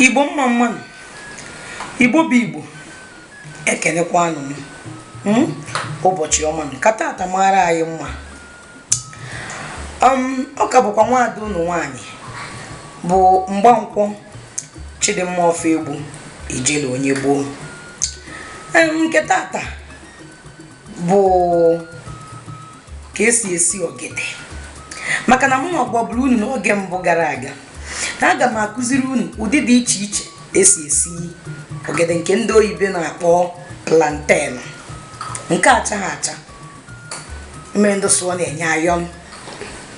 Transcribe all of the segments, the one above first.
igbo mma mmanụ igbo bụ igbo ekenekwanụ m hmm? ụbọchị ọma ka tata mara anyị mma um, ọ ka bụkwa nwaada ụnụ nwaanyị bụ mgbankwọ chidimma ofoegbu ijele onye gboo um, nke tata bụ ka esi esi ogede maka na mụ na-agwaburu unu n'oge mbụ gara aga na aga m akụziri unu ụdị dị iche iche esi esi ogede nke ndị oyibo na-akpọ plantain nke achaghị acha e nwere ndị sụ ọ na-enye iron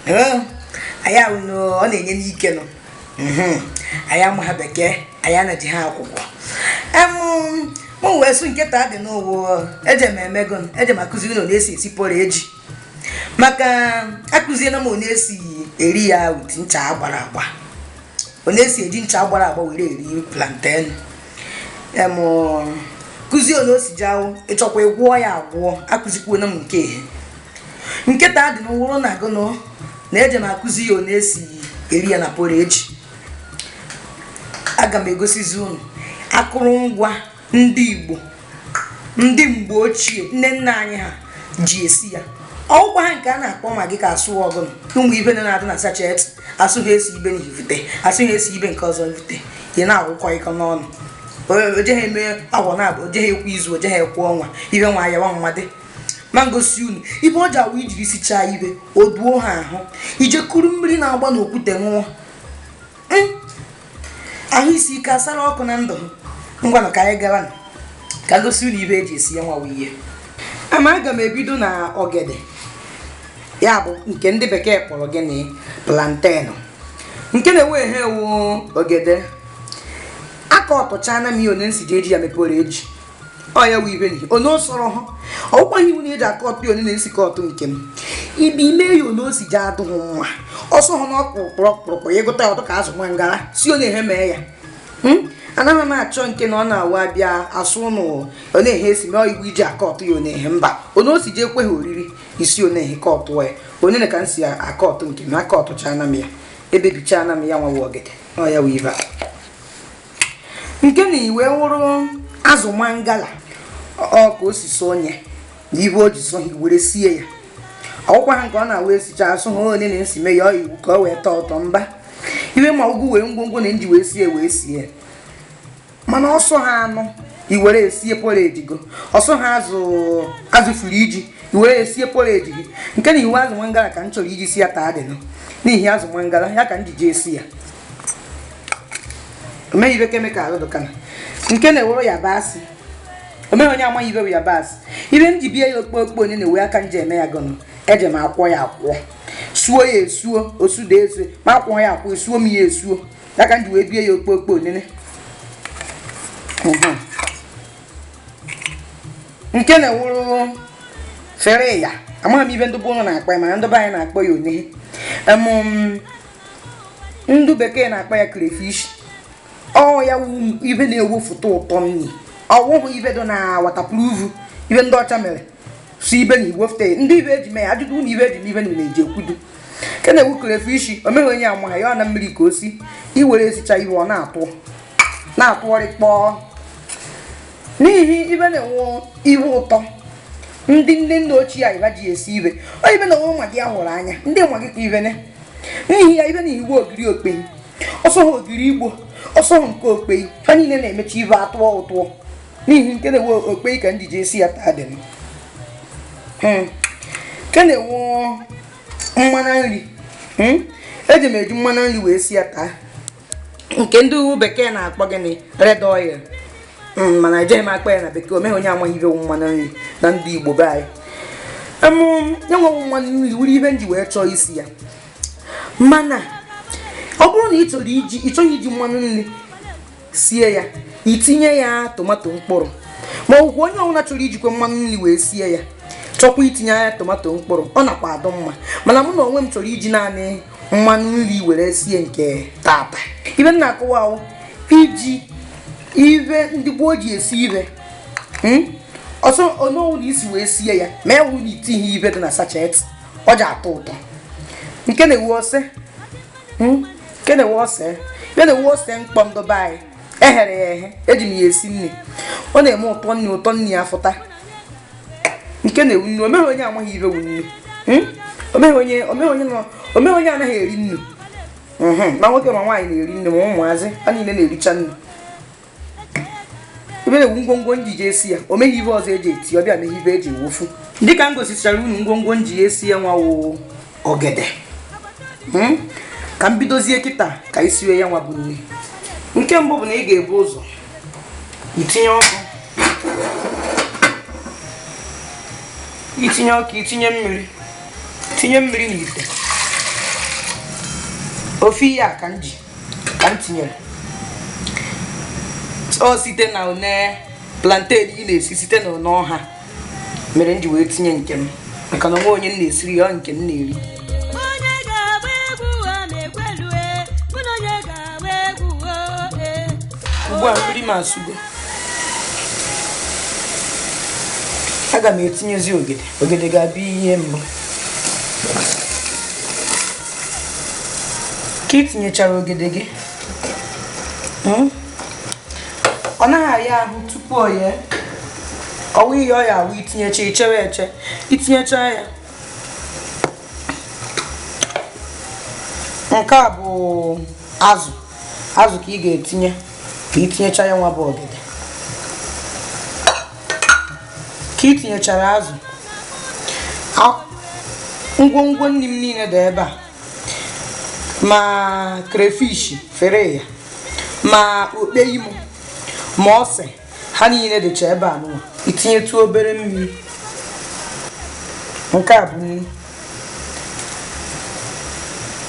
ee, anyị ahụ na ọ na-enye ike nụ mhm. anyị amaha bekee anyị anaji ha akwụkwọ mụ wee sụ nke ta dị n'ụwa eje m emego eje m akụziri unu esi esi porridge maka akụziena m onye esi eri ya with ncha agbara agba onye esi eji ncha agbara agba were eri planten kụzie onye o si ji awụ ịchọkwa ịgwọ ya agwọ akụzikwuona m nke ihe nke ta dị n'ụwụrụ na gụnụ na eje m akụzi ya na esi eri ya na porridge aga m egosizi unu akụrụngwa ndị igbo ndị mgbe ochie nne nna anyị ha ji esi ya ọ wụkwaha nke a na-akpọ maggi ka a sụ ọ gụnụ ụmụ ibe na na-adị na sachet asụ ha esi ibe na ivute asụ ha esi ibe nke ọzọ ivute ị na-agwụkọ ịkọ n'ọnụ ojeghị eme afọ naabụ ojeghị ekwu izu ojeghị ekwu ọnwa ibe nwa ya nwa mmadụ ma m gosi unu ibe ọ ji awụ i jiri sichaa ibe o duo ha ahụ i je kuru mmiri na-agba n'okwute ṅụọ Hmm. ahụ isi ike asara ọkụ na ndụ ha ngwanụ ka anyị gara nụ. ka m gosi unu ibe eji esi ya nwawa ihe ama aga m ebido na ogede ya bụ nke ndị bekee kpọrọ gịnị plantain nke na-ewe ehe ewu ogede aka ọtụchana m ihe onye m si ji eji ya eme porridge ọ ya wụ ibe gị onye ọ sọrọ ha ọ wụkwaghị iwu na eji aka ọtụ onye na-esi ka ọtụ nke m ibe ime ya onye o si ji adụ ha nwa ọsọ ha na ọkpụrụkpụrụkpụrụkpụ ya ịgụta ya ọtụ ka azụ nwa ngara si onye ha mee ya hmm? anaghị m achọ nke na ọ na-awa abịa asụ ụnụ onye ha esi mee iwu iji aka ọtụ ya onye mba onye o si ji ekwe ha oriri isi onye ha ka ọtụ ya onye ka m si aka ọtụ nke m aka ọtụcha na m ya ebebicha na m ya nwa wụ ogede ọ ya wụ ibe a nke na iwe wụrụ azụ mangala ọ ka o si sọ onye na ibe o ji sọ ha were sie ya ọkwa ha nke ọ na-awa esicha asụ ha onye na-esi mee ya iwu ka o wee tọọ ụtọ mba iwe ma ugwu wee ngwongwo m ji wee sie wee sie mana ọ sọ ha anụ i were sie porridge gọ ọ sọ ha azụ azụ fridge i were sie porridge gị nke na iwe azụ mangala ka m chọrọ iji sie ya taa dịnụ n'ihi azụ mangala ya ka m ji ji esi ya o meghị ibe chemical dụkana nke na-ewere yabasị o meghị onye amaghị ibe bụ yabasị ibe m ji bie ya okpokpo onye na-ewe aka m ji eme ya gọnụ eji m akwọ ya akwọ suo ya esuo osude esu ma akwọ ya akwọ esuo m ya esuo ya ka m ji wee bie ya okpokpo onene Mhm. nke na-ewuru fere ya amaghị m ibe ndị be unu na-akpọ ya mana ndị be anyị na-akpọ ya onye ndị bekee na-akpọ ya crayfish ọ ya wu ibe na-ewefụta ụtọ nri ọ wụhụ ibe dị na waterproof ibe ndị ọcha mere sị ibe na-ewefụta ndị ibe eji mee ya ajụjụ na ibe eji mee ibe na eji ekwudu nke na-ewu crayfish o meghị onye amaghị ya ọ na mmiri ka o si i were sichaa ibe ọ na-atụ na-atụgharị kpọọ n'ihi ibe na-enye ibe ụtọ ndị nne nna ochie anyị ji esi ibe onye ibe na onwe nwa gị ahụrụ anya ndị nwa gị ka ibe ne n'ihi ya ibe na iwu ogiri okpei ọ sọ ha ogiri igbo ọ sọ ha nke okpei ha niile na-emechi ibe atọọ ụtọ n'ihi nke na-ewe okpei ka m ji ji esi ya taa dị hmm. nke na-ewu mmanụ nri hmm. eji m eji mmanụ nri wee sie ya taa nke ndị bekee na-akpọ gịnị red oil hmm, mana ejeghị m akpọ ya na bekee o meghị onye amaghị ibe mmanụ nri na ndị igbo be anyị enweghị mmanụ nri wuru ibe m ji wee chọọ isi ya mana ọ bụrụ na ị chọrọ iji ị chọghị iji mmanụ nri sie ya i tinye ya tomato mkpụrụ ma ọ bụkwa onye ọbụla chọrọ ijikwa mmanụ nri wee sie ya chọkwa itinye ya tomato mkpụrụ ọ nakwa adụ mma mana mụ na onwe m chọrọ iji naanị mmanụ nri were sie nke tata ibe m na-akọwa wụ iji ibe ndị gboo ji esi ibe hmm? ọsọ onowu na isi wee sie ya ma ewu na itinye ibe dị na sachet o ji atọ ụtọ nke na-ewu ose hmm? nke na-ewu ose nke na-ewu ose mkpọ ndị be anyị eghere ya eghe eji m ya esi nri ọ na-eme ụtọ nri ụtọ nri ya fụta nke na-ewu nnu o meghị onye amaghị ibe wu nnu hmm? o meghị onye anaghị eri nnu hmm, ma nwoke ma nwaanyị na-eri nnu ma ụmụazị ha niile na-ericha nnu ibe na-ewu ngwongwo m ji ji esi ya o meghị ibe ọzọ eji etinye ya o meghị ibe eji ewefụ dịka m gosichara unu ngwongwo m ji esi ya nwa woo ogede hmm? ka m bidozie kịta ka anyị siwe ya nwa bụ nri nke mbụ bụ na ị ga-ebu ụzọ itinye ọkụ itinye ọkụ itinye mmiri tinye mmiri n'ite ofe ihe a ka m ji ka m tinyere o site na one plantain ị na-esi site na one ọha mere m ji wee tinye nke m maka na o nwe onye m na-esiri ya ọ nke m na-eri onye ga-agba egwu ụwa na-ekwelue mụ na onye ga-agba egwu ụwa ee ugbu a mmiri m asụgo aga m etinyezi ogede ogede ga-abụ ihe mbụ ka ị tinyechara ogede gị mm, ọ naghị aya ahụ tupu o yee ọ wụ ihe ọ ya-awụ itinyecha ichere eche itinyecha ya nke a bụ azụ azụ ka ị ga-etinye ka itinyecha ya nwa bụ ogede ka itinyechara azụ ngwongwo nri m niile dị ebe a ma crayfish fere ya ma okpei m o ma ose ha niile dịcha ebe a nụwa itinyetụ obere mmiri nke a bụ nnu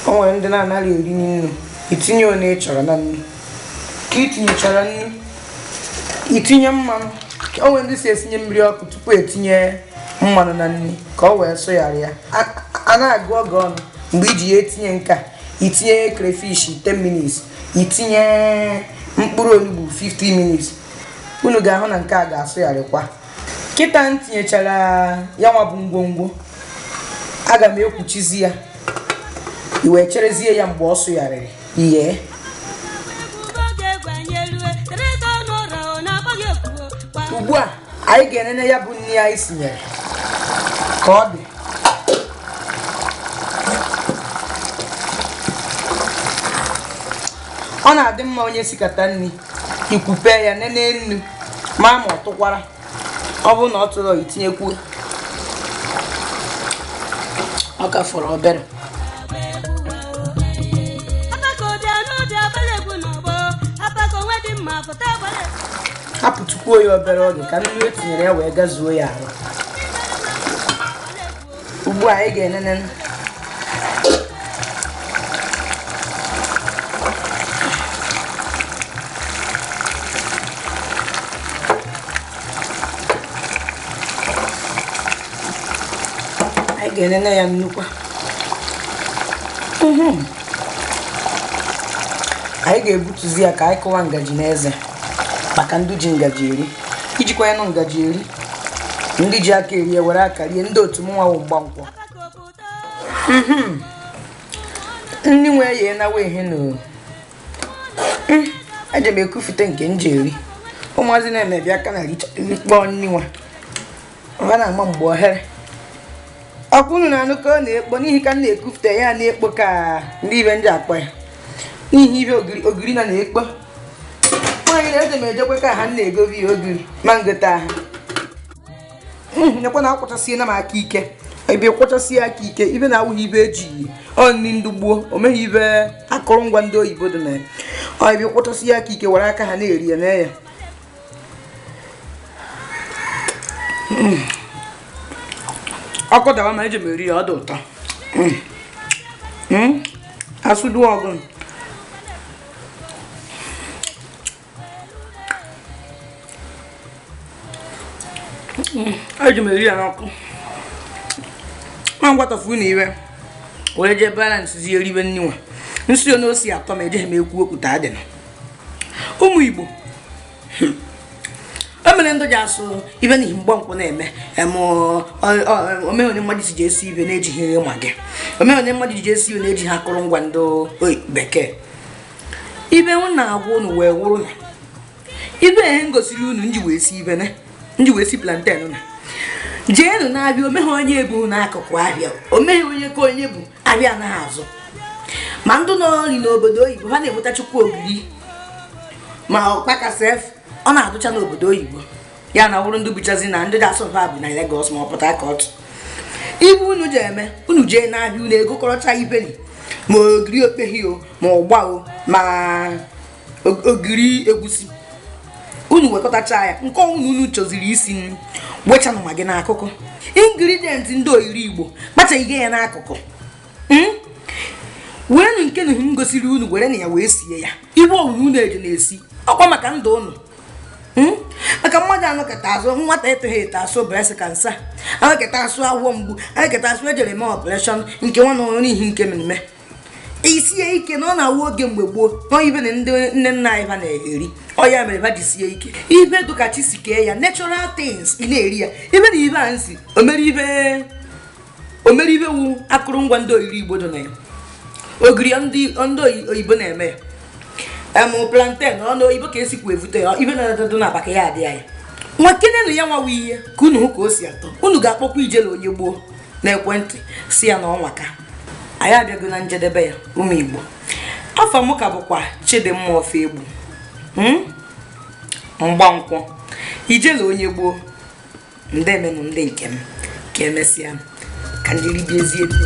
o nwere ndị na-anaghị eri nnu itinye one ị chọrọ na nri ka itinyechara nnu itinye mmanụ o nwe ndị si esinye mmiri ọkụ tupu etinye mmanụ na nri ka o wee sụghara ya a na-agụ oge ọnụ mgbe iji ya etinye nke a itinye crayfish 10 minutes itinye mkpụrụ onugbu 15 minutes unu ga-ahụ na nke a ga-asụgharịkwa kịta m tinyechara ya nwa bụ ngwongwo aga m ekwuchizi ya iwee cherezie ya mgbe ọ sụgharịrị ihe ugbu a anyị ga-enene ya bụ nri anyị sinyere ka ọ dị ọ na-adị mma onye sikata nri ikwupe ya nene nnu ma ma ọ tụkwara ọ bụrụ na ọ tụrọ itinyekwu ọ ka fọrọ obere hapụtụkwuo ya obere oge ka nnu e tinyere ya wee gazuo ya arụ ugbu a anyị ga-enene anyị ga-enene ya nnukwu mhm. anyị ga-ebutuzi ya ka anyị kụwa ngaji n'eze maka ndị ji ngaji eri ijikwa ya nụ ngaji eri ndị ji aka eri were aka rie ndị otu mụnwa wụ mgbankwọ mhm. ndị nwe ya enawa ihe na hmm. eje m ekufute nke m ji eri ụmụazị na-emebi aka na rikpọọ nni nwa ha na-ama mgbe o ghere ọkwa unu na-anụ ka ọ na-ekpo n'ihi ka m na-ekufute ya na-ekpo ka ndị ibe ndị akpọ ya n'ihi ibe ogiri na na-ekpo nwaanyị na-eje m ejekwe ka ha na-egobi ya ogiri ma ngota ha nekwa na akwọchasịela m aka ike ebe kwọchasị aka ike ibe na-awụghị ibe eji ọ nri ndị gboo o meghị ibe akụrụngwa ndị oyibo dị na ya ọ ebe kwọchasị aka ike were aka ha na-eri ya na ya mm. ọkụ dawa ma eji m eri ya ọ dị ụtọ mm. mm. asụdu ọgụ eji m eri ya n'ọkụ nwa ngwatọfu na iwe wee jee balance zie eribe nni nwa m si onye osi atọ ma ejeghị m ekwu okwu taa dị na ụmụ igbo o mere ndị ji asụ ibe n'ihi mgbankwọ na-eme omeonye mmadụ si ji esi ibe na-ejighị maggi omeonye mmadụ ji esi ibe na-ejighị akụrụngwa ndị bekee ibe m na-agwa unu wee wụrụ na ibe m gosiri unu m ji wee si ibe na m ji wee si plantain na jeenu n'abịa o meghị onye bu n'akụkụ ahịa o meghị onye ka onye bụ abịa anaghị azụ ma ndị nọrị n'obodo oyibo ha na-enwetachakwu ogiri ma ọkpaka sef ọ na-adụcha n'obodo oyibo ya na wụrụ ndị buchazi na ndị ga-asụ ha bu na Lagos ma ọ Port Harcourt ibe unu je eme unu jee n'ahịa unu egokọrọcha ibe nri ma ogiri okpehi o ma ụgba o ma ogiri egwusi unu wekọtacha ya nke ọwụna unu chọziri isi nri wechanụ maggi n'akụkụ ingredient ndị oyiri igbo kpachaghị ya n'akụkụ hmm? werenụ nke na m gosiri unu were na ya wee sie ya ibe owuwe unu eji na-esi ọkwa maka ndụ unu hmm? maka mmadụ anọkọta asụ nwata etoghị eto asụ breast cancer anọkọta asụ agwọ mgbu anọkọta asụ ejere eme operation nke nwa na ọrụ n'ihi nke mmemme isie ike na ọ na-awụ oge mgbe gboo na ihe na ndị nne nna anyị ha na-eri ọ ya mere ha ji sie ike ihe dụka chi si kee ya natural things ị na-eri ya ihe na ihe a na-asị o mere ihe o mere ihe wu akụrụngwa ndị oriri igbo dị na ya ogiri ndị oyibo na-eme ya em plantain ọnụ oyibo ka esikwu evute ya ihe na-adadụ na abaka ya adị anyị nwakenenụ ya nwawa ihe ka unu hụ ka o si atọ unu ga-akpọkwa ijele onye gboo n'ekwentị sị ya na ọ nwaka anyị abịago na njedebe ya ụmụ Igbo afa m ka bụkwa Chidimma Ofoegbu hmm? Mgbankwọ ijele onye gboo ndemenụ ndị nke m ka emesịa ka m je ribezie nni